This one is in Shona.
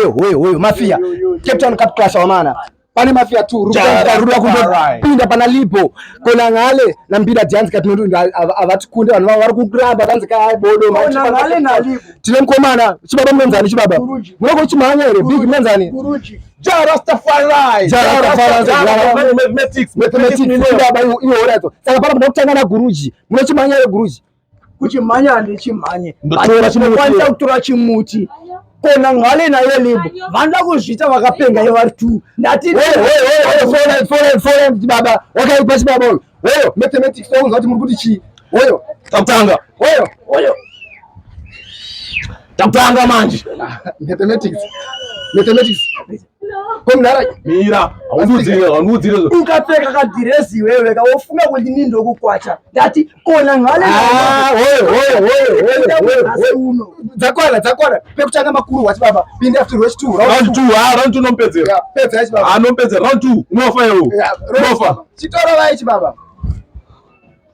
Hoyo hoyo hoyo mafia. Cape Town Cup Clash wamana. Pane mafia tu ruda kundopinda pana lipo kona ngale na mbira dance ka tinondo avatikunde vanhu vari kukuramba kanzi ka bodo ma kona ngale na lipo tine mkomana chibaba mnenzani chibaba munoko chimhanya here big mnenzani Ja Rastafari. Ja Rastafari. Mathematics. Mathematics. Baba iwo iwo rato. Saka pano mnakutanga na guruji. Munochimhanya re guruji. kuchimhanya handichimhanye ndokwanisa kutora chimuti kona ngale nayo limbo vanoda kuzviita vakapenga ivari two ndati baba wakaipa chibaba uyu oyo mathematics ounza kuti muri kuti chii oyo takutanga oyo oyo takutanga manje mathematics mathematics ukapfeka kadhirezi iwewe kawofunga kuti ni ndokukwacha ndati kona ngaledzakwana dzakwana pekutanga makuru wati baba pindi after round two round two ha round two nompedzera pedza yachi baba anompedzera round two unofa iwo unofa chitoro vaye chibaba